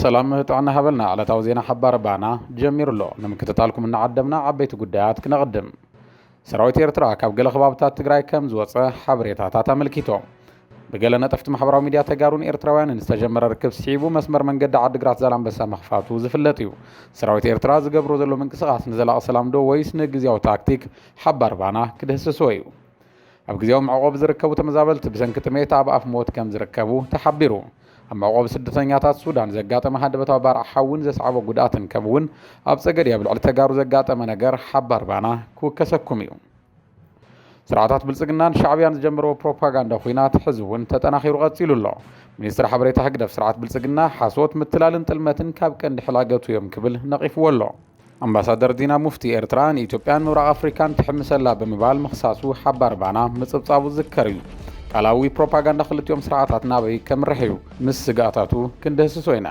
ሰላም ጥዕና ሃበልና ዕለታዊ ዜና ሓባር ባና ጀሚሩ ኣሎ ንምክትታልኩም እናዓደምና ዓበይቲ ጉዳያት ክነቕድም ሰራዊት ኤርትራ ካብ ገለ ከባብታት ትግራይ ከም ዝወፀ ሓበሬታታት ኣመልኪቶም ብገለ ነጠፍቲ ማሕበራዊ ሚድያ ተጋሩን ኤርትራውያንን ዝተጀመረ ርክብ ስዒቡ መስመር መንገዲ ዓዲግራት ዛላምበሳ ምኽፋቱ ዝፍለጥ እዩ። ሰራዊት ኤርትራ ዝገብሮ ዘሎ ምንቅስቓስ ንዘላቒ ሰላም ዶ ወይስ ንግዝያዊ ታክቲክ ሓባር ባና ክድህስሶ እዩ። ኣብ ግዝያዊ መዕቖቢ ዝርከቡ ተመዛበልቲ ብሰንኪ ጥሜት ኣብ ኣፍ ሞት ከም ዝርከቡ ተሓቢሩ። ኣብ መዕቖቢ ስደተኛታት ሱዳን ዘጋጠመ ሃንደበታዊ ባርዕ ሓዊን ዘስዓቦ ጉድኣትን ከምኡ'ውን ኣብ ጸገዴ ኣብ ልዕሊ ተጋሩ ዘጋጠመ ነገር ሓባር ባና ክውከሰኩም እዩ። ስርዓታት ብልፅግናን ሻዕብያን ዝጀመርዎ ፕሮፓጋንዳ ኹናት ሕዚ እውን ተጠናኺሩ ቀፂሉ ኣሎ። ሚኒስትሪ ሓበሬታ ህግደፍ ስርዓት ብልፅግና ሓሶት፣ ምትላልን ጥልመትን ካብ ቀንዲ ሕላገቱ እዮም ክብል ነቒፍዎ ኣሎ። ኣምባሳደር ዲና ሙፍቲ ኤርትራ ንኢትዮጵያን ምብራቕ ኣፍሪካን ትሕምስ ኣላ ብምባል ምኽሳሱ ሓባር ባና ምፅብፃቡ ዝዝከር እዩ። ቃላዊ ፕሮፓጋንዳ ክልቲኦም ስርዓታት ናበይ ከምርሕ እዩ ምስ ስግኣታቱ ክንድህስሶ ኢና።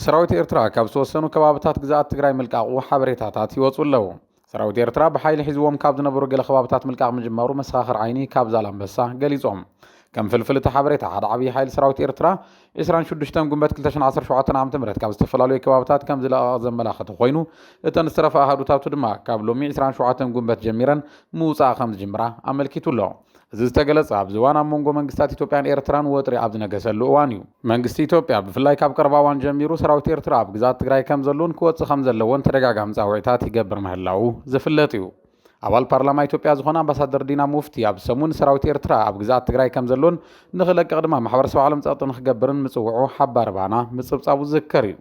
ሰራዊት ኤርትራ ካብ ዝተወሰኑ ከባብታት ግዝኣት ትግራይ ምልቃቑ ሓበሬታታት ይወፁ ኣለዉ። ሰራዊት ኤርትራ ብሓይሊ ሒዝዎም ካብ ዝነበሩ ገለ ከባብታት ምልቃቕ ምጅማሩ መሰኻኽር ዓይኒ ካብ ዛላምበሳ ገሊፆም። ከም ፍልፍል እቲ ሓበሬታ ሓደ ዓብዪ ሓይሊ ሰራዊት ኤርትራ 26 ጉንበት 2017 ዓ.ም ካብ ዝተፈላለዩ ከባብታት ከም ዝለቐቐ ዘመላኸተ ኮይኑ እተን ዝተረፋ ኣሃዱታቱ ድማ ካብ ሎሚ 27 ጉንበት ጀሚረን ምውፃእ ከም ዝጅምራ ኣመልኪቱ ኣሎ። እዚ ዝተገለፀ ኣብዚ እዋን ኣብ መንጎ መንግስታት ኢትዮጵያን ኤርትራን ወጥሪ ኣብ ዝነገሰሉ እዋን እዩ። መንግስቲ ኢትዮጵያ ብፍላይ ካብ ቀረባ እዋን ጀሚሩ ሰራዊት ኤርትራ ኣብ ግዝኣት ትግራይ ከምዘሎን ክወፅእ ከምዘለዎን ተደጋጋሚ ፃውዒታት ይገብር ምህላዉ ዝፍለጥ እዩ። ኣባል ፓርላማ ኢትዮጵያ ዝኾና ኣምባሳደር ዲና ሙፍቲ ኣብዚ ሰሙን ሰራዊት ኤርትራ ኣብ ግዝኣት ትግራይ ከምዘሎን ንኽለቅቕ ድማ ማሕበረሰብ ዓለም ፀቕጢ ንኽገብርን ምፅውዑ ሓባሪ ባና ምፅብፃቡ ዝዝከር እዩ።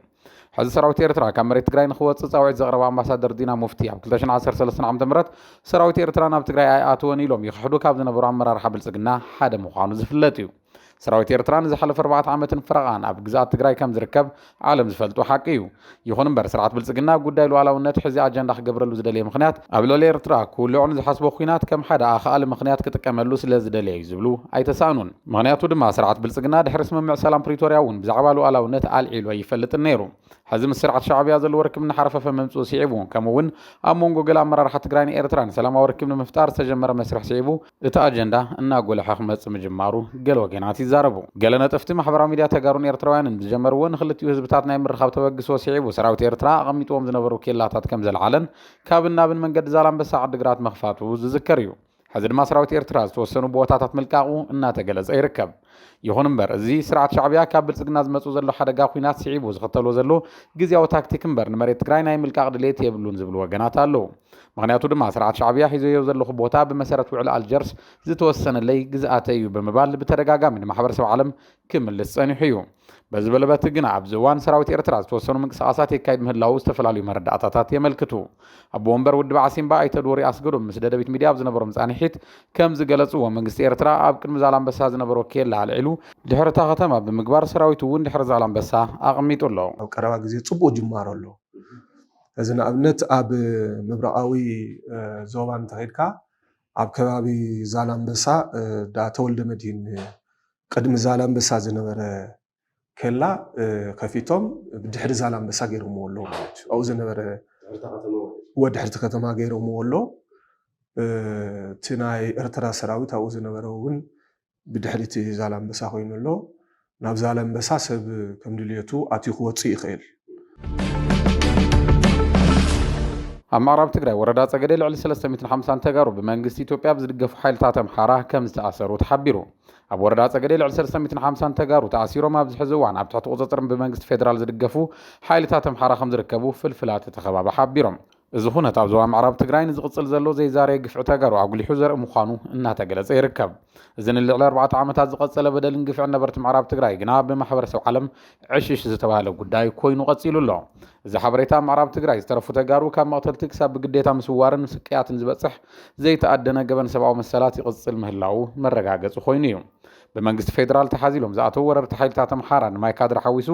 ሕዚ ሰራዊት ኤርትራ ካብ መሬት ትግራይ ንኽወጽእ ጻውዒት ዘቕረባ ኣምባሳደር ዲና ሙፍቲ ኣብ 2013 ዓ ም ሰራዊት ኤርትራ ናብ ትግራይ ኣይኣተወን ኢሎም ይኽሕዱ ካብ ዝነበሩ ኣመራርሓ ብልጽግና ሓደ ምዃኑ ዝፍለጥ እዩ ሰራዊት ኤርትራ ንዝሓለፈ ኣርባዕተ ዓመትን ፍረቓን ኣብ ግዝኣት ትግራይ ከም ዝርከብ ዓለም ዝፈልጦ ሓቂ እዩ ይኹን እምበር ስርዓት ብልፅግና ጉዳይ ሉዓላውነት ሕዚ ኣጀንዳ ክገብረሉ ዝደለየ ምክንያት ኣብ ልዕሊ ኤርትራ ክውልዑ ንዝሓስቦ ኩናት ከም ሓደ ኣኽኣሊ ምክንያት ክጥቀመሉ ስለ ዝደለየ እዩ ዝብሉ ኣይተሳእኑን ምኽንያቱ ድማ ስርዓት ብልፅግና ድሕሪ ስምምዕ ሰላም ፕሪቶርያ እውን ብዛዕባ ሉኣላውነት ኣልዒሉ ኣይፈልጥን ነይሩ። ሕዚ ምስ ስርዓት ሻዕብያ ዘለዎ ርክብ እናሓረፈፈ ምምፅኡ ስዒቡ ከምኡ እውን ኣብ መንጎ ገለ ኣመራርሓ ትግራይን ኤርትራን ሰላማዊ ርክብ ንምፍጣር ዝተጀመረ መስርሕ ስዒቡ እቲ ኣጀንዳ እናጎልሐ ክመፅእ ምጅማሩ ገለ ወገናት ይዛረቡ። ገለ ነጠፍቲ ማሕበራዊ ሚድያ ተጋሩን ኤርትራውያንን ብዝጀመርዎ ንክልቲኡ ህዝብታት ናይ ምርኻብ ተበግሶ ስዒቡ ሰራዊት ኤርትራ ኣቐሚጥዎም ዝነበሩ ኬላታት ከምዘልዓለን ካብን ናብን መንገዲ ዛላምበሳ ዓዲግራት ምኽፋቱ ዝዝከር እዩ። ሕዚ ድማ ሰራዊት ኤርትራ ዝተወሰኑ ቦታታት ምልቃቑ እናተገለጸ ይርከብ። ይኹን እምበር እዚ ስርዓት ሻዕብያ ካብ ብልጽግና ዝመጽእ ዘሎ ሓደጋ ኩናት ስዒቡ ዝኽተሎ ዘሎ ግዝያዊ ታክቲክ እምበር ንመሬት ትግራይ ናይ ምልቃቕ ድሌት የብሉን ዝብሉ ወገናት ኣለዉ። ምኽንያቱ ድማ ስርዓት ሻዕብያ ሒዘዮ ዘለኹ ቦታ ብመሰረት ውዕሊ ኣልጀርስ ዝተወሰነለይ ግዝኣተይ እዩ ብምባል ብተደጋጋሚ ንማሕበረሰብ ዓለም ክምልስ ጸኒሑ እዩ። በዚ በለበት ግና ኣብዚ እዋን ሰራዊት ኤርትራ ዝተወሰኑ ምንቅስቓሳት የካይድ ምህላዉ ዝተፈላለዩ መረዳእታታት የመልክቱ። ኣቦ ወንበር ውድብ ዓሲምባ ኣይተ ዶሪ ኣስገዶም ምስ ደደቢት ሚድያ ኣብ ዝነበሮም ጻንሒት ከም ዝገለጽዎ መንግስቲ ኤርትራ ኣብ ቅድሚ ዛላምበሳ ዝነበሮ ኬላ ኣልዒሉ ድሕሪ እታ ከተማ ብምግባር ሰራዊቱ እውን ድሕሪ ዛላምበሳ ኣቕሚጡ ኣሎ። ኣብ ቀረባ ግዜ ጽቡቕ ጅማሮ ኣሎ። እዚ ንኣብነት ኣብ ምብራቓዊ ዞባ እንተኼድካ ኣብ ከባቢ ዛላምበሳ ዳተወልደመድሂን ቅድሚ ዛላምበሳ ዝነበረ ኬላ ከፊቶም ድሕሪ ዛላምበሳ ገይሮምዎ ኣለዉ ማለት እዩ። ኣብኡ ዝነበረ እወ ድሕርቲ ከተማ ገይሮምዎ ኣሎ። እቲ ናይ ኤርትራ ሰራዊት ኣብኡ ዝነበረ እውን ብድሕሪ እቲ ዛላምበሳ ኮይኑ ኣሎ። ናብ ዛላምበሳ ሰብ ከም ድልየቱ ኣትዩ ክወፅእ ይኽእል። ኣብ ምዕራብ ትግራይ ወረዳ ጸገዴ ልዕሊ 350 ተጋሩ ብመንግስቲ ኢትዮጵያ ብዝድገፉ ሓይልታት ኣምሓራ ከም ዝተኣሰሩ ተሓቢሩ። ኣብ ወረዳ ጸገዴ ልዕሊ 350 ተጋሩ ተኣሲሮም ኣብዚ ሕዚ እዋን ኣብ ትሕቲ ቁፅፅር ብመንግስቲ ፌዴራል ዝድገፉ ሓይልታት ኣምሓራ ከም ዝርከቡ ፍልፍላት እቲ ከባቢ ሓቢሮም። እዚ ኹነት ኣብ ዞባ ምዕራብ ትግራይ ንዝቕፅል ዘሎ ዘይዛረየ ግፍዒ ተጋሩ ኣጉሊሑ ዘርኢ ምዃኑ እናተገለፀ ይርከብ። እዚ ንልዕሊ ኣርባዕተ ዓመታት ዝቐፀለ በደልን ግፍዕን ነበርቲ ምዕራብ ትግራይ ግና ብማሕበረሰብ ዓለም ዕሽሽ ዝተብሃለ ጉዳይ ኮይኑ ቐፂሉ ኣሎ። እዚ ሓበሬታ ኣብ ምዕራብ ትግራይ ዝተረፉ ተጋሩ ካብ መቕተልቲ ክሳብ ብግዴታ ምስዋርን ስቅያትን ዝበፅሕ ዘይተኣደነ ገበን ሰብኣዊ መሰላት ይቕፅል ምህላዉ መረጋገፂ ኮይኑ እዩ። ብመንግስቲ ፌዴራል ተሓዚሎም ዝኣተዉ ወረርቲ ሓይልታት ኣምሓራ ንማይ ካድራ ሓዊሱ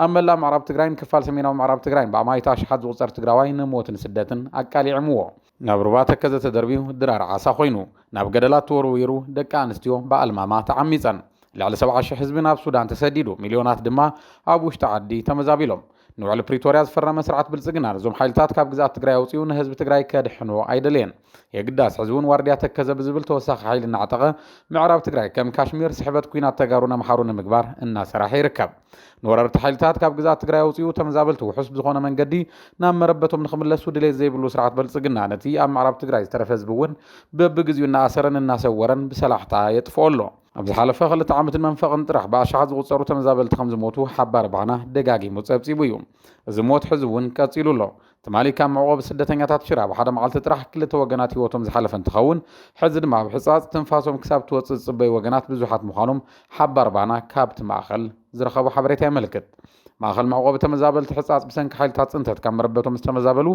ኣብ መላእ ምዕራብ ትግራይን ክፋል ሰሜናዊ ምዕራብ ትግራይን ብኣማኢት ኣሽሓት ዝቑፀር ትግራዋይ ንሞትን ስደትን ኣቃሊዕምዎ። ናብ ሩባ ተከዘ ተደርብዩ ድራር ዓሳ ኮይኑ። ናብ ገደላት ተወርዊሩ ደቂ ኣንስትዮ ብኣልማማ ተዓሚፀን። ልዕሊ ሰብዓ ሽሕ ህዝቢ ናብ ሱዳን ተሰዲዱ ሚልዮናት ድማ ኣብ ውሽጢ ዓዲ ተመዛቢሎም። ንውዕሊ ፕሪቶርያ ዝፈረመ ስርዓት ብልፅግና ነዞም ሓይልታት ካብ ግዝኣት ትግራይ ኣውፂኡ ንህዝቢ ትግራይ ከድሕኖ ኣይደለየን። የግዳስ ሕዚ እውን ዋርድያ ተከዘ ብዝብል ተወሳኺ ሓይሊ እናዕጠቐ ምዕራብ ትግራይ ከም ካሽሚር ስሕበት ኲናት ተጋሩን ኣምሓሩ ንምግባር እናሰራሐ ይርከብ። ንወረርቲ ሓይልታት ካብ ግዝኣት ትግራይ ኣውፂኡ ተመዛበልቲ ውሑስ ብዝኾነ መንገዲ ናብ መረበቶም ንክምለሱ ድሌት ዘይብሉ ስርዓት በልፅግና ነቲ ኣብ ምዕራብ ትግራይ ዝተረፈ ህዝቢ እውን በብግዚኡ እናኣሰረን እናሰወረን ብሰላሕታ የጥፍኦ ኣሎ። ኣብ ዝሓለፈ ክልተ ዓመትን መንፈቕን ጥራሕ ብኣሻሓት ዝቑፀሩ ተመዛበልቲ ከም ዝሞቱ ሓባር ባና ደጋጊሙ ፀብፂቡ እዩ። እዚ ሞት ሕዚ እውን ቀፂሉ ኣሎ። ትማሊ ካብ መዕቖቢ ስደተኛታት ሽረ ኣብ ሓደ መዓልቲ ጥራሕ ክልተ ወገናት ህይወቶም ዝሓለፈ እንትኸውን ሕዚ ድማ ኣብ ሕፃፅ ትንፋሶም ክሳብ እትወፅእ ዝፅበዩ ወገናት ብዙሓት ምዃኖም ሓባር ባና ካብቲ ማእኸል ዝረኸቦ ሓበሬታ የመልክት። ማእኸል መዕቆቢ ተመዛበልቲ ሕፃፅ ብሰንኪ ሓይልታት ፅንተት ካብ መረበቶም ዝተመዛበሉ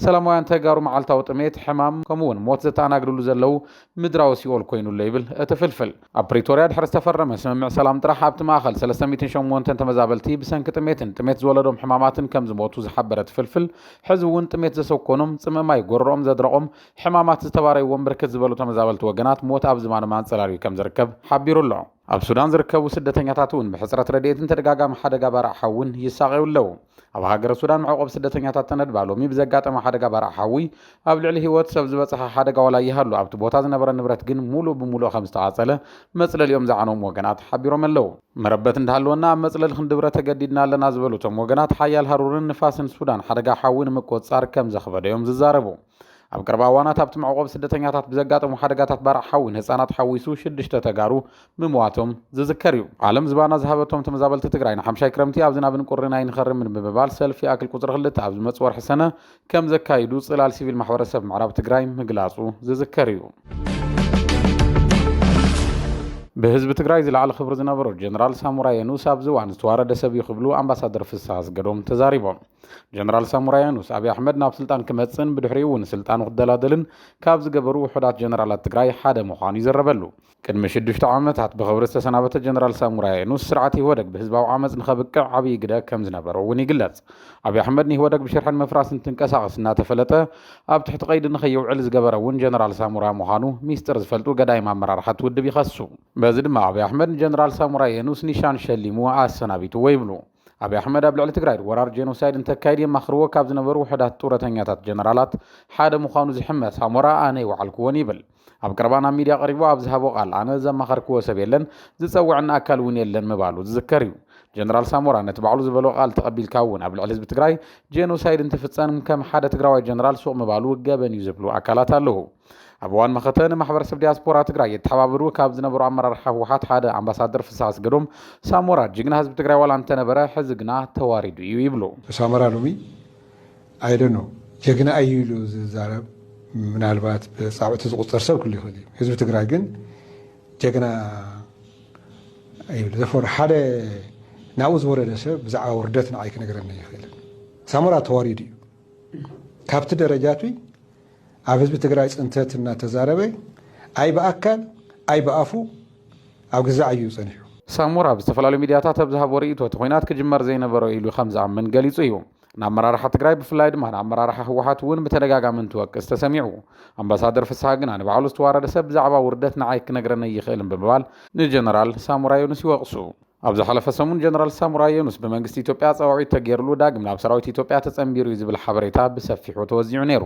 ሰላማውያን ተጋሩ መዓልታዊ ጥሜት፣ ሕማም ከምኡ እውን ሞት ዘተኣናግድሉ ዘለዉ ምድራዊ ሲኦል ኮይኑ ኣሎ ይብል እቲ ፍልፍል። ኣብ ፕሪቶርያ ድሕሪ ዝተፈረመ ስምምዕ ሰላም ጥራሕ ኣብቲ ማእኸል ሰለስተ ሚእትን ሸሞንተን ተመዛበልቲ ብሰንኪ ጥሜትን ጥሜት ዝወለዶም ሕማማትን ከም ዝሞቱ ዝሓበረ እቲ ፍልፍል ሕዚ እውን ጥሜት ዘሰኮኖም፣ ፅምኢ ማይ ጎረሮኦም ዘድረቖም፣ ሕማማት ዝተባረይዎም ብርክት ዝበሉ ተመዛበልቲ ወገናት ሞት ኣብ ዝባኖም ኣንፀላልዩ ከም ዝርከብ ሓቢሩ ኣሎ። ኣብ ሱዳን ዝርከቡ ስደተኛታት እውን ብሕፅረት ረድኤትን ተደጋጋሚ ሓደጋ ባርዕ ሓውን ይሳቐዩ ኣለዉ። ኣብ ሃገረ ሱዳን መዕቆቢ ስደተኛታት ተነድባ ሎሚ ብዘጋጠመ ሓደጋ ባርዕ ሓዊ ኣብ ልዕሊ ህይወት ሰብ ዝበፅሐ ሓደጋ ዋላ ይሃሉ ኣብቲ ቦታ ዝነበረ ንብረት ግን ሙሉእ ብሙሉእ ከምዝተቓፀለ መፅለሊኦም ዝዓነዎም ወገናት ሓቢሮም ኣለዉ። መረበት እንዳሃለወና ኣብ መፅለሊ ክንድብረ ተገዲድና ኣለና ዝበሉ እቶም ወገናት ሓያል ሃሩርን ንፋስን ሱዳን ሓደጋ ሓዊ ንምቁፅፃር ከምዘኽበደ እዮም ዝዛረቡ። ኣብ ቀረባ እዋናት ኣብቲ መዕቖቢ ስደተኛታት ብዘጋጠሙ ሓደጋታት ባርዕ ሓዊ ንህፃናት ሓዊሱ ሽዱሽተ ተጋሩ ምሟቶም ዝዝከር እዩ። ዓለም ዝባና ዝሃበቶም ተመዛበልቲ ትግራይ ንሓምሻይ ክረምቲ ኣብ ዝናብን ቁርን ኣይንኸርምን ብምባል ሰልፊ ይኣክል ቁፅሪ ክልተ ኣብ ዝመፅእ ወርሒ ሰነ ከምዘካይዱ ፅላል ሲቪል ማሕበረሰብ ምዕራብ ትግራይ ምግላፁ ዝዝከር እዩ። ብህዝቢ ትግራይ ዝለዓለ ክብሪ ዝነበሮ ጀነራል ሳሞራ የኑስ ኣብዚ እዋን ዝተዋረደ ሰብ እዩ ክብሉ ኣምባሳደር ፍስሃ ኣስገዶም ተዛሪቦም። ጀነራል ሳሙራ ያኑስ ኣብዪ ኣሕመድ ናብ ስልጣን ክመፅእን ብድሕሪኡ እውን ስልጣኑ ክደላደልን ካብ ዝገበሩ ውሑዳት ጀነራላት ትግራይ ሓደ ምዃኑ ይዝረበሉ። ቅድሚ ሽዱሽተ ዓመታት ብኽብሪ ዝተሰናበተ ጀነራል ሳሙራ ያኑስ ስርዓት ኢህወደግ ብህዝባዊ ዓመፅ ንኸብቅዕ ዓብዪ ግደ ከም ዝነበሮ እውን ይግለፅ። ኣብዪ ኣሕመድ ንኢህወደግ ብሽርሕን ምፍራስን እንትንቀሳቐስ እናተፈለጠ ኣብ ትሕቲ ቀይዲ ንኸይውዕል ዝገበረ እውን ጀነራል ሳሙራ ምዃኑ ሚስጥር ዝፈልጡ ገዳይም ኣመራርሓ እቲ ውድብ ይኸሱ። በዚ ድማ ኣብዪ ኣሕመድ ንጀነራል ሳሙራ የኑስ ኒሻን ሸሊሙ ኣሰናቢትዎ ይብሉ። ኣብይ ኣሕመድ ኣብ ልዕሊ ትግራይ ወራር ጄኖሳይድ እንተካይድ የማኽርዎ ካብ ዝነበሩ ውሑዳት ጡረተኛታት ጀነራላት ሓደ ምዃኑ ዝሕመ ሳሞራ ኣነ ይወዓልክዎን ይብል። ኣብ ቀረባ ናብ ሚድያ ቀሪቡ ኣብ ዝሃቦ ቃል ኣነ ዘማኸርክዎ ሰብ የለን፣ ዝፀውዐኒ ኣካል እውን የለን ምባሉ ዝዝከር እዩ። ጀነራል ሳሞራ ነቲ ባዕሉ ዝበሎ ቃል ተቐቢልካ እውን ኣብ ልዕሊ ህዝቢ ትግራይ ጄኖሳይድ እንትፍፀም ከም ሓደ ትግራዋይ ጀነራል ሱቕ ምባሉ ገበን እዩ ዝብሉ ኣካላት ኣለዉ። ኣብ እዋን መኸተ ንማሕበረሰብ ዲያስፖራ ትግራይ የተሓባብሩ ካብ ዝነበሩ ኣመራርሓ ህወሓት ሓደ ኣምባሳደር ፍስሐ ኣስገዶም ሳሞራ ጅግና ህዝቢ ትግራይ ዋላ እንተነበረ ሕዚ ግና ተዋሪዱ እዩ ይብሉ። ሳሞራ ሎሚ ኣይደኖ ጀግና እዩ ኢሉ ዝዛረብ ምናልባት ብፃብዕቲ ዝቁፀር ሰብ ክሉ ይኽእል እዩ። ህዝቢ ትግራይ ግን ጀግና ይብል ዘፈር ሓደ ናብኡ ዝወረደ ሰብ ብዛዕባ ውርደት ንዓይ ክነገረኒ ይኽእልን ሳሞራ ተዋሪዱ እዩ ካብቲ ደረጃትይ ኣብ ህዝቢ ትግራይ ፅንተት እናተዛረበ ኣይ ብኣካል ኣይ ብኣፉ ኣብ ግዛዕ እዩ ፀኒሑ። ሳሞራ ኣብ ዝተፈላለዩ ሚድያታት ኣብ ዝሃቦ ርእይቶ እቲ ኹናት ክጅመር ዘይነበሮ ኢሉ ከምዝኣምን ገሊፁ እዩ። ንኣመራርሓ ትግራይ ብፍላይ ድማ ንኣመራርሓ ህወሓት እውን ብተደጋጋሚ እንትወቅስ ተሰሚዑ። ኣምባሳደር ፍስሃ ግና ንባዕሉ ዝተዋረደ ሰብ ብዛዕባ ውርደት ንዓይ ክነግረኒ ኣይኽእልን ብምባል ንጀነራል ሳሞራ ዮኑስ ይወቕሱ። ኣብ ዝሓለፈ ሰሙን ጀነራል ሳሙራ የኑስ ብመንግስቲ ኢትዮጵያ ጸዋዒት ተገይርሉ ዳግም ናብ ሰራዊት ኢትዮጵያ ተጸንቢሩ እዩ ዝብል ሓበሬታ ብሰፊሑ ተወዚዑ ነይሩ።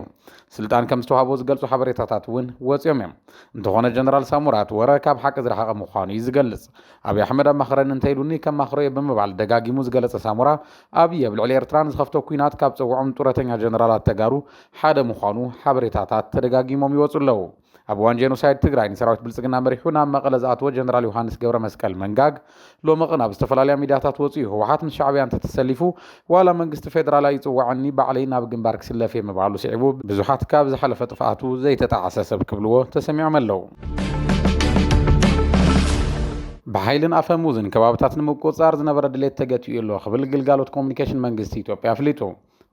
ስልጣን ከም ዝተዋህቦ ዝገልጹ ሓበሬታታት እውን ወጺኦም እዮም። እንተኾነ ጀነራል ሳሙራ እቲ ወረ ካብ ሓቂ ዝረሓቐ ምዃኑ እዩ ዝገልጽ። ኣብይ ኣሕመድ ኣማኽረኒ እንተኢሉኒ ከማኽሮ እየ ብምባል ደጋጊሙ ዝገለጸ ሳሙራ፣ ኣብይ ኣብ ልዕሊ ኤርትራ ንዝኸፍቶ ኲናት ካብ ጸውዖም ጡረተኛ ጀነራላት ተጋሩ ሓደ ምዃኑ ሓበሬታታት ተደጋጊሞም ይወጹ ኣለዉ። ኣብ እዋን ጄኖሳይድ ትግራይ ንሰራዊት ብልፅግና መሪሑ ናብ መቐለ ዝኣተወ ጀነራል ዮሃንስ ገብረ መስቀል መንጋግ ሎሚ ቅን ኣብ ዝተፈላለያ ሚድያታት ወፂኡ ህወሓት ምስ ሻዕብያ እንተተሰሊፉ ዋላ መንግስቲ ፌደራል ኣይፅወዐኒ ባዕለይ ናብ ግንባር ክስለፍ እየ ምባሉ ስዒቡ ብዙሓት ካብ ዝሓለፈ ጥፍኣቱ ዘይተጣዕሰ ሰብ ክብልዎ ተሰሚዖም ኣለው። ብሓይልን ኣፈሙዝን ከባብታት ንምቁፅፃር ዝነበረ ድሌት ተገቲኡ ኣሎ ክብል ግልጋሎት ኮሙኒኬሽን መንግስቲ ኢትዮጵያ ኣፍሊጡ።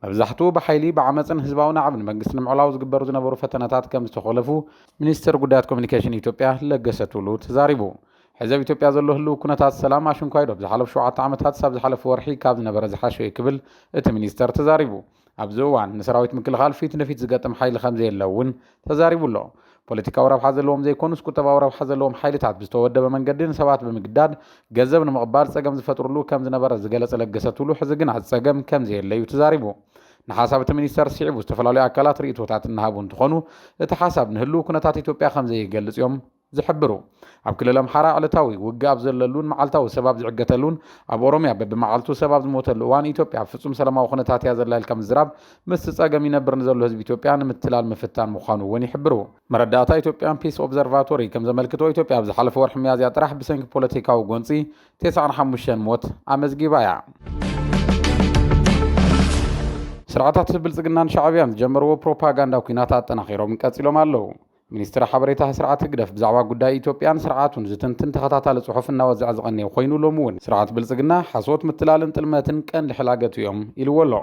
መብዛሕትኡ ብሓይሊ፣ ብዓመጽን ህዝባዊ ናዕብን መንግስቲ ንምዕላው ዝግበሩ ዝነበሩ ፈተነታት ከም ዝተኾለፉ ሚኒስተር ጉዳያት ኮሚኒኬሽን ኢትዮጵያ ለገሰ ቱሉ ተዛሪቡ። ሕዚ ኣብ ኢትዮጵያ ዘሎ ህልው ኩነታት ሰላም ኣሽንኳይ ዶብ ዝሓለፉ ሸውዓተ ዓመታትስ ኣብ ዝሓለፈ ወርሒ ካብ ዝነበረ ዝሓሸ'ዩ ክብል እቲ ሚኒስተር ተዛሪቡ። ኣብዚ እዋን ንሰራዊት ምክልኻል ፊት ንፊት ዝገጥም ሓይሊ ከም ዘየለ እውን ተዛሪቡ ኣሎ። ፖለቲካዊ ረብሓ ዘለዎም ዘይኮኑስ ቁጠባዊ ረብሓ ዘለዎም ሓይልታት ብዝተወደበ መንገዲ ንሰባት ብምግዳድ ገንዘብ ንምቕባል ፀገም ዝፈጥርሉ ከም ዝነበረ ዝገለፀ ለገሰ ቱሉ ሕዚ ግና እቲ ፀገም ከም ዘየለ እዩ ተዛሪቡ። ንሓሳብ እቲ ሚኒስተር ስዒቡ ዝተፈላለዩ ኣካላት ርኢቶታት እናሃቡ እንትኾኑ እቲ ሓሳብ ንህልው ኩነታት ኢትዮጵያ ከም ዘይገልፅ እዮም ዝሕብሩ። ኣብ ክልል ኣምሓራ ዕለታዊ ውግእ ኣብ ዘለሉን መዓልታዊ ሰብ ኣብ ዝዕገተሉን፣ ኣብ ኦሮምያ በቢመዓልቱ ሰብ ኣብ ዝሞተሉ እዋን ኢትዮጵያ ኣብ ፍፁም ሰላማዊ ኩነታት እያ ዘላ ኢልካ ምዝራብ ምስቲ ፀገም ይነብር ንዘሎ ህዝቢ ኢትዮጵያ ንምትላል ምፍታን ምዃኑ እውን ይሕብሩ። መረዳእታ ኢትዮጵያን ፒስ ኦብዘርቫቶሪ ከም ዘመልክቶ ኢትዮጵያ ኣብ ዝሓለፈ ወርሒ ሚያዝያ ጥራሕ ብሰንኪ ፖለቲካዊ ጎንፂ ቴስዓን ሓሙሽተን ሞት ኣመዝጊባ እያ። ስርዓታት ብልፅግናን ሻዕብያን ዝጀመርዎ ፕሮፓጋንዳ ኲናት ኣጠናኺሮም ቀፂሎም ኣለው። ሚኒስትሪ ሓበሬታ ስርዓት ህግደፍ ብዛዕባ ጉዳይ ኢትዮጵያን ስርዓቱን ዝትንትን ተኸታታሊ ጽሑፍ እናወዝዐ ዝቐነየ ኮይኑ ሎሚ እውን ስርዓት ብልጽግና ሓሶት፣ ምትላልን ጥልመትን ቀንዲ ሕላገቱ እዮም ኢልዎ ኣሎ።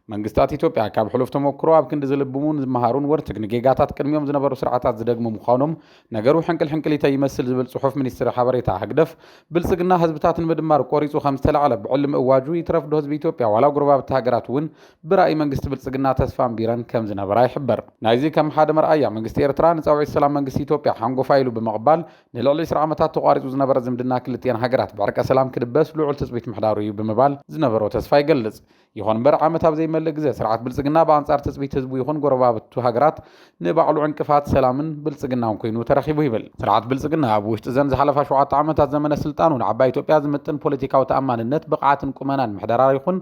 መንግስታት ኢትዮጵያ ካብ ሕሉፍ ተሞክሮ ኣብ ክንዲ ዝልብሙን ዝመሃሩን ወርትግ ንጌጋታት ቅድሚኦም ዝነበሩ ስርዓታት ዝደግሙ ምዃኖም ነገሩ ሕንቅል ሕንቅሊተይ ይመስል ዝብል ጽሑፍ ሚኒስትሪ ሓበሬታ ህግደፍ ብልጽግና ህዝብታት ንምድማር ቆሪጹ ከምዝተላዕለ ብዕሊ ምእዋጁ ይትረፍዶ ህዝቢ ኢትዮጵያ ዋላ ጎረባብቲ ሃገራት እውን ብራኢ መንግስቲ ብልጽግና ተስፋን ቢረን ከም ዝነበራ ይሕበር። ናይዚ ከም ሓደ መርኣያ፣ መንግስቲ ኤርትራ ንጻውዒት ሰላም መንግስቲ ኢትዮጵያ ሓንጎፋይ ኢሉ ብምቕባል፣ ንልዕሊ ዕስራ ዓመታት ተቋሪጹ ዝነበረ ዝምድና ክልቲኤን ሃገራት ብዕርቀ ሰላም ክድበስ ልዑል ትጽቢት ምሕዳሩ እዩ ብምባል ዝነበሮ ተስፋ ይገልጽ። ይኹንምበር ዓመት ኣብ ዘይመልእ ግዘ ስርዓት ብልጽግና ብኣንጻር ትጽቢት ህዝቡ ይኹን ጎረባብቱ ሃገራት ንባዕሉ ዕንቅፋት ሰላምን ብልጽግናን ኩይኑ ተረኪቡ ይብል። ስርዓት ብልጽግና ኣብ ውሽጢ እዘን ዝሓለፋ ሸውዓተ ዓመታት ዘመነ ስልጣኑ ንዓባይ ኢትዮጵያ ዝምጥን ፖለቲካዊ ተኣማንነት፣ ብቕዓትን ቁመናን ምሕደራ ይኹን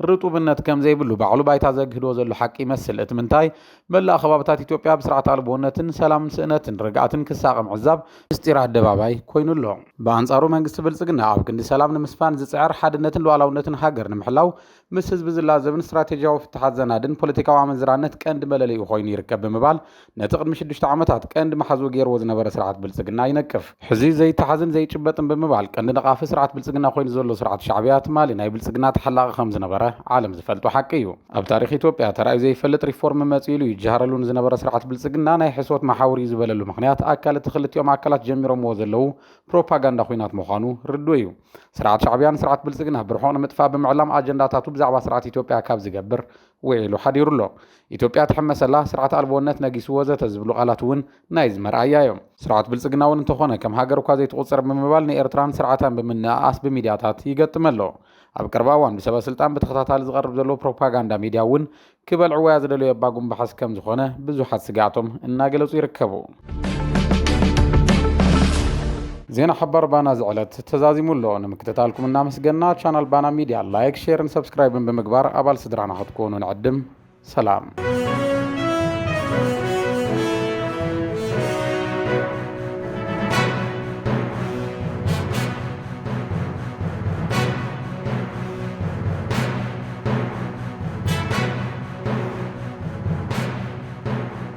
ርጡብነት ከም ዘይብሉ ባዕሉ ባይታ ዘግህዶ ዘሎ ሓቂ ይመስል። እቲ ምንታይ፣ መላእ ከባብታት ኢትዮጵያ ብስርዓት ኣልቦነትን ሰላም ስእነትን ርግኣትን ክሳቐ ምዕዛብ ምስጢር ኣደባባይ ኮይኑ ኣሎ። ብኣንጻሩ መንግስቲ ብልጽግና ኣብ ክንዲ ሰላም ንምስፋን ዝጽዕር፣ ሓድነትን ሉኣላውነትን ሃገር ንምሕላው ምስ ህዝቢ ዝላዘብን ስትራቴጂያዊ ፍታሓት ዘናድን ፖለቲካዊ ኣመንዝራነት ቀንዲ መለለይኡ ኮይኑ ይርከብ ብምባል ነቲ ቅድሚ ሽዱሽተ ዓመታት ቀንዲ መሓዝኡ ገይርዎ ዝነበረ ስርዓት ብልጽግና ይነቅፍ። ሕዚ ዘይተሓዝን ዘይጭበጥን ብምባል ቀንዲ ነቓፊ ስርዓት ብልጽግና ኮይኑ ዘሎ ስርዓት ሻዕብያ ትማሊ ናይ ብልጽግና ተሓላቒ ከም ዝነበረ ዓለም ዝፈልጦ ሓቂ እዩ። ኣብ ታሪኽ ኢትዮጵያ ተራእዩ ዘይፈልጥ ሪፎርም መጺኡ ኢሉ ይጀሃረሉ ንዝነበረ ስርዓት ብልጽግና ናይ ሕሶት መሓውር እዩ ዝበለሉ ምኽንያት ኣካል እቲ ክልቲኦም ኣካላት ጀሚሮምዎ ዘለዉ ፕሮፓጋንዳ ኹናት ምዃኑ ርዱእ እዩ። ስርዓት ሻዕብያ ንስርዓት ብልጽግና ብርሑቕ ንምጥፋእ ብምዕላም ኣጀንዳታቱ ብዛዕባ ስርዓት ኢትዮጵያ ካብ ዝገብር ውዒሉ ሓዲሩ ኣሎ። ኢትዮጵያ ትሕመስ ኣላ፣ ስርዓት ኣልቦነት ነጊሱ ወዘተ ዝብሉ ቃላት እውን ናይዚ መርኣያ እዮም። ስርዓት ብልጽግና እውን እንተኾነ ከም ሃገር እኳ ዘይትቑጸር ብምባል ንኤርትራን ስርዓታን ብምንእኣስ ብሚድያታት ይገጥም ኣሎ። ኣብ ቀረባ እዋን ብሰበስልጣን ብተኸታታሊ ዝቐርብ ዘሎ ፕሮፓጋንዳ ሚድያ እውን ክበልዕዎያ ዝደለዩ ኣባጉምባሕስ ከምዝኾነ ብዙሓት ስግኣቶም እናገለጹ ይርከቡ። ዜና ሓባር ባና ዝዕለት ተዛዚሙ ኣሎ። ንምክትታልኩም እናመስገና ቻናል ባና ሚድያ ላይክ፣ ሼርን ሰብስክራይብን ብምግባር ኣባል ስድራና ክትኮኑ ንዕድም። ሰላም